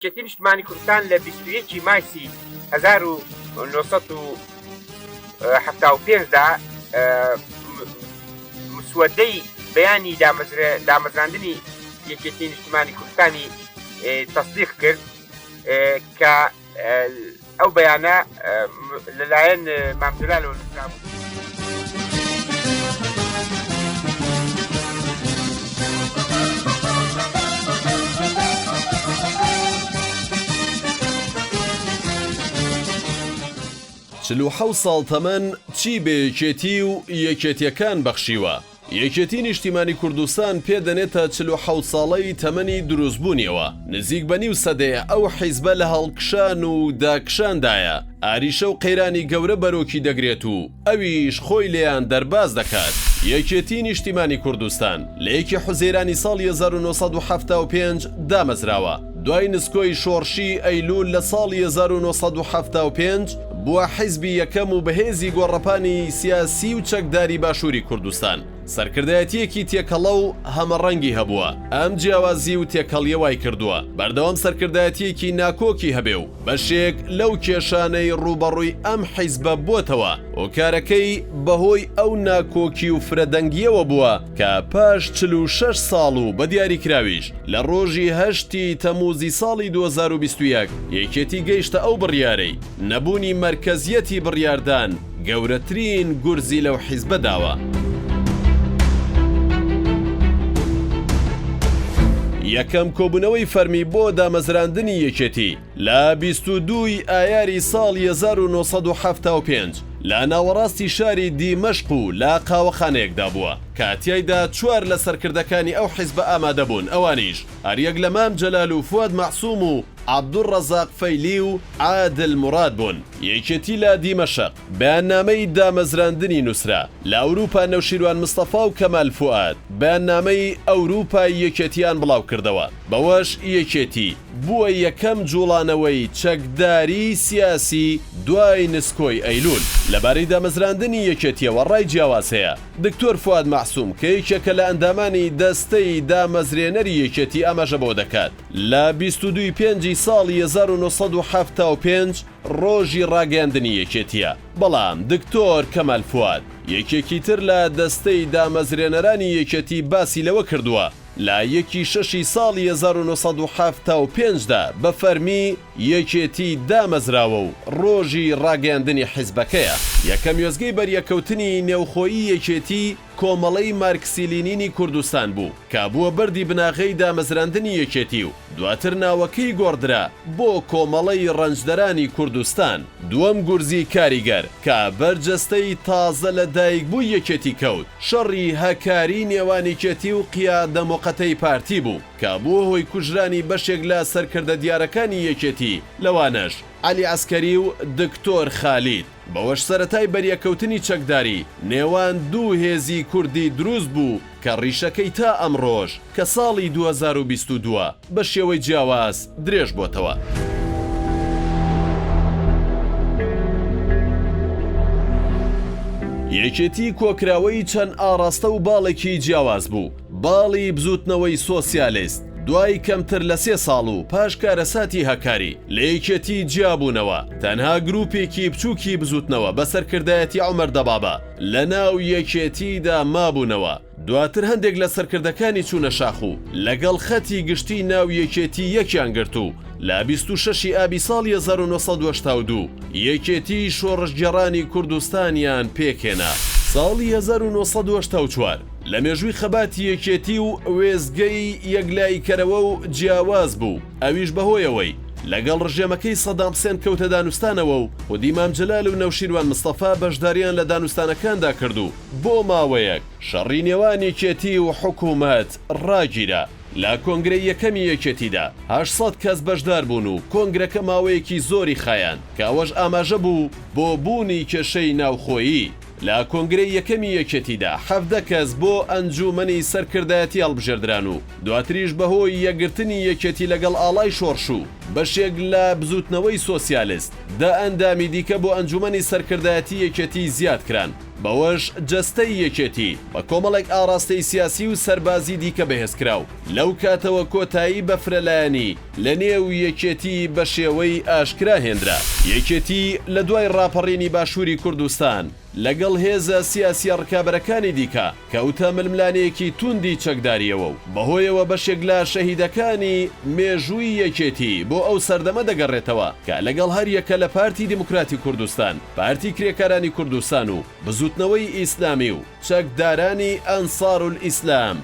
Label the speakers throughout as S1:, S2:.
S1: یەکێتی نیشتمانی کوردستان لە بیست و یەک ی مایسی هەزار و نۆ سەد و حەفتا و پێنج دا مسوەدەی بەیانی دامەزرێ دامەزراندنی یەکێتی نیشتمانی کوردستانی تەسدیق کرد کە ئەو بەیانە لەلایەن مام جەلالەوە
S2: نووسرابوو. چل و حەوت ساڵ تەمەن چی بە یەکێتی و یەکێتیەکان بەخشیوە؟ یەکێتی نیشتیمانی کوردستان پێ دەنێتە چل و حەوت ساڵەی تەمەنی دروست بوونیەوە، نزیک بە نیو سەدەیە ئەو حیزبە لە هەڵکشان و داکشان دایە، ئاریشە و قەیرانی گەورە بەرۆکی دەگرێت و ئەویش خۆی لێیان دەرباز دەکات. یەکێتی نیشتیمانی کوردستان لە یەکی حوزەیرانی ساڵی هەزار و نۆ سەد و حەفتا و پێنج دامەزراوە، دوای نسکۆی شۆڕشی ئەیلوول لە ساڵی هەزار و نۆ سەد و حەفتا و پێنج، بووە حیزبی یەکەم و بەهێزی گۆڕەپانی سیاسی و چەکداری باشووری کوردستان. سەرکردایەتییەکی تێکەڵە و هەمەڕەنگی هەبووە، ئەم جیاوازی و تێکەڵییە وایکردووە بەردەوام سەرکردایەتییەکی ناکۆکی هەبێ و بەشێک لەو کێشانەی ڕووبەڕووی ئەم حیزبە بووەتەوە، هۆکارەکەی بەهۆی ئەو ناکۆکی و فرەدەنگییەوە بووە، کە پاش چل و شەش ساڵ و بە دیاریکراویش لە ڕۆژی هەشت ی تەمووزی ساڵی دوو هەزار و بیست و یەک یەکێتی گەیشتە ئەو بڕیارەی نەبوونی مەرکەزییەتی بڕیاردان گەورەترین گورزی لەو حیزبە داوە. یەکەم کۆبوونەوەی فەرمی بۆ دامەزراندنی یەکێتی، لە بیست و دوو ی ئایاری ساڵی هەزار و نۆ سەد و حەفتا و پێنج لە ناوەڕاستی شاری دیمەشق و لە قاوەخانەیەکدا بووە کە تیایدا چوار لە سەرکردەکانی ئەو حیزبە ئامادە بوون ئەوانیش هەریەک لە مام جەلال و فواد مەعسوم و عەبدولڕەزاق فەیلی و عادل موراد بوون. یەکێتی لە دیمەشق بەیاننامەی دامەزراندنی نووسرا. لە ئەوروپا نەوشیروان مستەفا و کەمال فوئاد بەیاننامەی ئەوروپای یەکێتییان بڵاوکردەوە بەوەش یەکێتی، بووە یەکەم جوڵانەوەی چەکداریی سیاسی دوای نسکۆی ئەیلول. لەبارەی دامەزراندنی یەکێتییەوە ڕای جیاواز هەیە. دکتۆر فواد مەعسوم کە یەکێکە لە ئەندامانی دەستەی دامەزرێنەری یەکێتی ئاماژە بەوە دەکات، لە بیست و دوو ی پێنجی ساڵی هەزار و نۆ سەد و حەفتا و پێنج ڕۆژی ڕاگەیاندنی یەکێتییە، بەڵام دکتۆر کەمال فواد، یەکێکی تر لە دەستەی دامەزرێنەرانی یەکێتی باسی لەوە کردووە، لە یەکی شەشی ساڵی هەزار و نۆ سەد و حەفتا و پێنج دا بە فەرمی یەکێتی دامەزراوە و ڕۆژی ڕاگەیاندنی حیزبەکەیە. یەکەم وێستگەی بەریەکەوتنی نێوخۆیی یەکێتی کۆمەڵەی مارکسی لینینی کوردستان بوو کە بووە بەردی بناغەی دامەزراندنی یەکێتی و دواتر ناوەکەی گۆڕدرا بۆ کۆمەڵەی ڕەنجدەرانی کوردستان، دووەم گورزی کاریگەر کە بەر جەستەی تازە لە دایک بووی یەکێتی کەوت، شەڕی هەکاری نێوان یکێتی و قیادە موقەتەی پارتی بوو کە بووە هۆی کوژرانی بەشێک لە سەرکردە دیارەکانی یەکێتی لەوانەش عەلی عەسکەری و دکتۆر خالید. بەوەش سەرەتای بەریەککەوتنی چەکداری نێوان دوو هێزی کوردی دروست بوو کە ڕیشەکەی تا ئەمڕۆش کە ساڵی دوو هەزار و بیست و دوو بە شێوەی جیاواز درێژ بۆتەوە. یەکێتی کۆکراوەی چەند ئاڕاستە و باڵێکی جیاواز بوو، باڵی بزووتنەوەی سۆسیالیست دوای کەمتر لە سێ ساڵ و پاش کارەساتی هەکاری، لە یەکێتی جیابوونەوە، تەنها گرووپێکی بچووکی بزووتنەوە بە سەرکردایەتی عومەر دەبابە لە ناو یەکێتیدا مابوونەوە، دواتر هەندێک لە سەرکردەکانی چوونە شاخ و لەگەڵ خەتی گشتیی ناو یەکێتی یەکیان گرت و لە بیست و شەش ی ئابی ساڵی هەزار و نۆ سەد و هەشتا و دوو یەکێتیی شۆڕشگێڕانی کوردستانیان پێکهێنا. ساڵی هەزار و نۆ سەد و هەشتا و چوار لە مێژووی خەباتی یەکێتی و وێستگەی یەکلاییکەرەوە و جیاواز بوو، ئەویش بەهۆی ئەوەی لەگەڵ ڕژێمەکەی سەدام حسێن کەوتە دانوستانەوە و خودی مام جەلال و نەوشیروان مستەفا بەشداریان لە دانوستانەکاندا کرد و بۆ ماوەیەک شەڕی نێوان یەکێتی و حکومەت ڕاگیرا. لە کۆنگرەی یەکەمی یەکێتیدا هەشت سەد کەس بەشدار بوون و کۆنگرەکە ماوەیەکی زۆری خایاند کە ئەوەش ئاماژە بوو بۆ بوونی کێشەی ناوخۆیی. لە کۆنگرەی یەکەمی یەکێتیدا حەڤدە کەس بۆ ئەنجوومەنی سەرکردایەتی هەڵبژێردران و دواتریش بەهۆی یەکگرتنی یەکێتی لەگەڵ ئاڵای شۆڕش و بەشێک لە بزووتنەوەی سۆسیالست دە ئەندامی دیکە بۆ ئەنجوومەنی سەرکردایەتی یەکێتی زیاد کران بەوەش جەستەی یەکێتی بە کۆمەڵێک ئاڕاستەی سیاسی و سەربازی دیکە بەهێزکرا و لەو کاتەوە کۆتایی بە فرەلایەنی لەنێو یەکێتی بەشێوەی ئاشکرا هێندرا. یەکێتی لە دوای ڕاپەڕینی باشووری کوردستان لەگەڵ هێزە سیاسییە ڕکابەرەکانی دیکە کەوتە ململانێیەکی تووندی چەکدارییەوە و بەهۆیەوە بەشێک لە شەهیدەکانی مێژووی یەکێتی بۆ ئەو سەردەمە دەگەڕێتەوە کە لەگەڵ هەریەکە لە پارتی دیموکراتی کوردستان، پارتی کرێکارانی کوردستان و بزووتنەوەی ئیسلامی و چەکدارانی ئەنسارولئیسلام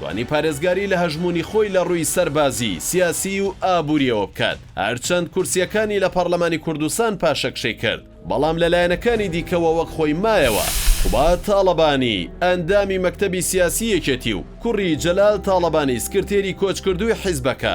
S2: توانی پارێزگاری لە هەژموونی خۆی لە ڕووی سەربازی، سیاسیی و ئابوورییەوە بکات، هەرچەند کورسییەکانی لە پەڕلەمانی کوردستان پاشەکشەی کرد، بەڵام لە لایەنەکانی دیکەوە وەک خۆی مایەوە. قوباد تاڵەبانی، ئەندامی مەکتەبی سیاسیی یەکێتی و کوڕی جەلال تاڵەبانی سکرتێری کۆچکردووی حیزبەکە،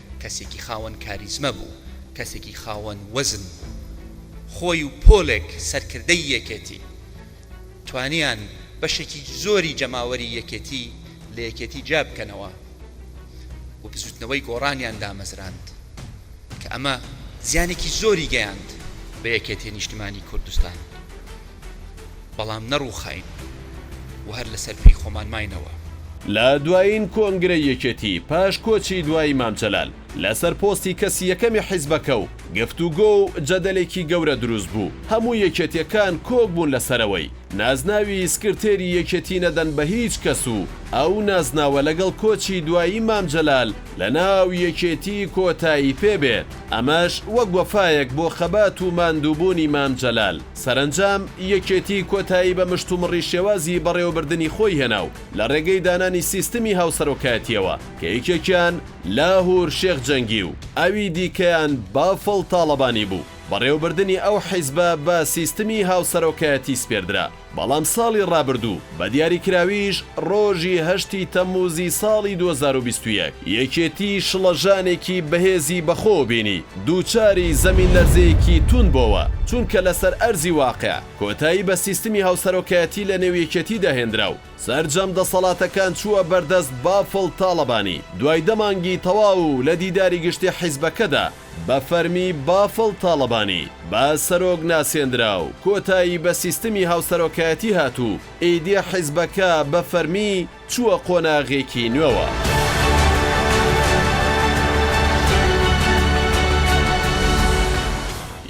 S3: کەسێکی خاوەن کاریزمە بوو، کەسێکی خاوەن وەزن بوو. خۆی و پۆلێک سەرکردەی یەکێتی، توانیان بەشێکی زۆری جەماوەری یەکێتی لە یەکێتی جیا بکەنەوە و بزووتنەوەی گۆڕانیان دامەزراند کە ئەمە زیانێکی زۆری گەیاند بە یەکێتی نیشتمانی کوردستان. بەڵام نەڕووخاین و هەر لەسەر پێی خۆمان ماینەوە. لە دوایین
S2: کۆنگرەی یەکێتی پاش کۆچی دوایی مام جەلال لەسەر پۆستی کەسی یەکەمی حیزبەکە و گفتوگۆ و جەدەلێکی گەورە دروست بوو، هەموو یەکێتیەکان کۆک بوون لەسەرەوەی نازناوی سکرتێری یەکێتی نەدەن بە هیچ کەس و ئەو نازناوە لەگەڵ کۆچی دوایی مام جەلال لە ناو یەکێتی کۆتایی پێ بێت، ئەمەش وەک وەفایەک بۆ خەبات و ماندووبوونی مام جەلال. سەرەنجام، یەکێتی کۆتایی بە مشتومڕی شێوازی بەڕێوەبردنی خۆی هێنا و لە ڕێگەی دانانی سیستمی هاوسەرۆکایەتییەوە کە یەکێکیان، لاهور شێخ جەنگی، و ئەوی دیکەیان، بافڵ تاڵەبانی، بوو، بەڕێوەبردنی ئەو حیزبە بە سیستمی هاوسەرۆکایەتی سپێردرا. بەڵام ساڵی ڕابردوو، بە دیاریکراویش ڕۆژی هەشتی تەممووزی ساڵی دوو هەزار و بیست و یەک، یەکێتی شڵەژانێکی بەهێزی بەخۆوە بینی، دووچاری زەمینلەرزەیەکی تووند بۆوە، چونکە لەسەر ئەرزی واقع کۆتایی بە سیستمی هاوسەرۆکایەتی لە نێو یەکێتیدا هێنرا و سەرجەم دەسەڵاتەکان چووە بەردەست بافڵ تاڵەبانی، دوای دە مانگی تەواو لە دیداری گشتی حیزبەکەدا، بە فەرمی بافڵ تاڵەبانی بە سەرۆک ناسێندرا و کۆتایی بە سیستمی هاوسەرۆکایەتی هات و ئیدی حیزبەکە بە فەرمی چووە قۆناغێکی نوێوە.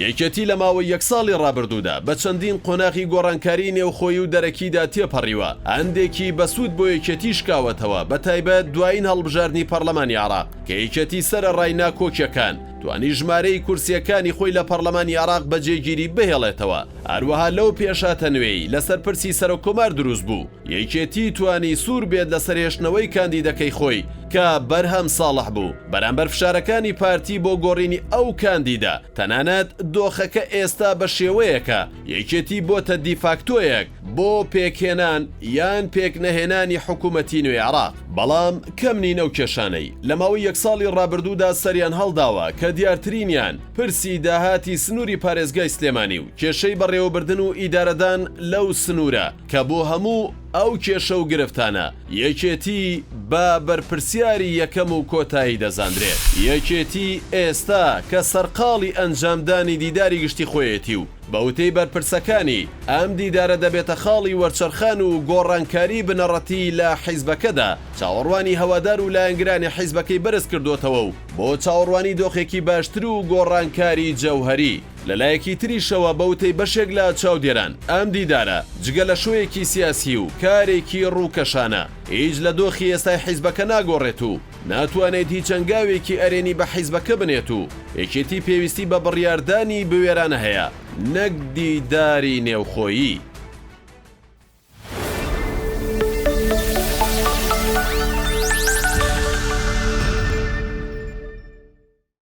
S2: یەکێتی لە ماوەی یەک ساڵی ڕابردوودا بە چەندین قۆناغی گۆڕانکاریی نێوخۆیی و دەرەکیدا تێپەڕیوە، هەندێکی بەسوود بۆ یەکێتی شکاوەتەوە، بەتایبەت دوایین هەڵبژاردنی پەڕڵەمانی عێراق. کە یەکێتی سەرەڕای ناکۆکیەکان توانی ژمارەی کورسیەکانی خۆی لە پەڕلەمانی عێراق بە جێگیری بهێڵێتەوە، هەروەها لەو پێشهاتە نوێی لەسەر پرسی سەرۆککۆمار دروست بوو، یەکێتی توانی سوور بێت لەسەر هێشتنەوەی کاندیدەکەی خۆی کە بەرهەم ساڵح بوو، بەرامبەر فشارەکانی پارتی بۆ گۆڕینی ئەو کاندیدە، تەنانەت دۆخەکە ئێستا بە شێوەیەکە یەکێتی بۆتە دیفاکتۆیەک، بۆ پێکهێنان یان پێکنەهێنانی حکوومەتی نوێی عێراق، بەڵام کەم نین ئەو کێشانەی لە ماوەی یەک ساڵی ڕابردوودا سەریان هەڵداوە کە دیارترینیان پرسی داهاتی سنووری پارێزگای سلێمانی و کێشەی بەڕێوەبردن و ئیدارەدان لەو سنوورە کە بۆ هەموو ئەو کێشە و گرفتانە یەکێتی بە بەرپرسیاری یەکەم و کۆتایی دەزاندرێت. یەکێتی ئێستا کە سەرقاڵی ئەنجامدانی دیداری گشتی خۆیەتی و، بە وتەی بەرپرسەکانی، ئەم دیدارە دەبێتە خاڵی وەرچەرخان و گۆڕانکاریی بنەڕەتی لە حیزبەکەدا، چاوەڕوانی هەوادار و لایەنگرانی حیزبەکەی بەرزکردۆتەوە و بۆ چاوەڕوانی دۆخێکی باشتر و گۆڕانکاریی جەوهەری. لەلایەکی تریشەوە بە وتەی بەشێک لە چاودێران، ئەم دیدارە جگە لە شۆیەکی سیاسی و کارێکی رووکەشانە، هیچ لە دۆخی ئێستای حیزبەکە ناگۆڕێت و، ناتوانێت هیچ هەنگاوێکی ئەرێنی بە حیزبەکە بنێت و یەکێتی پێویستی بە بڕیاردانی بوێرانە هەیە نەک دیداری نێوخۆیی.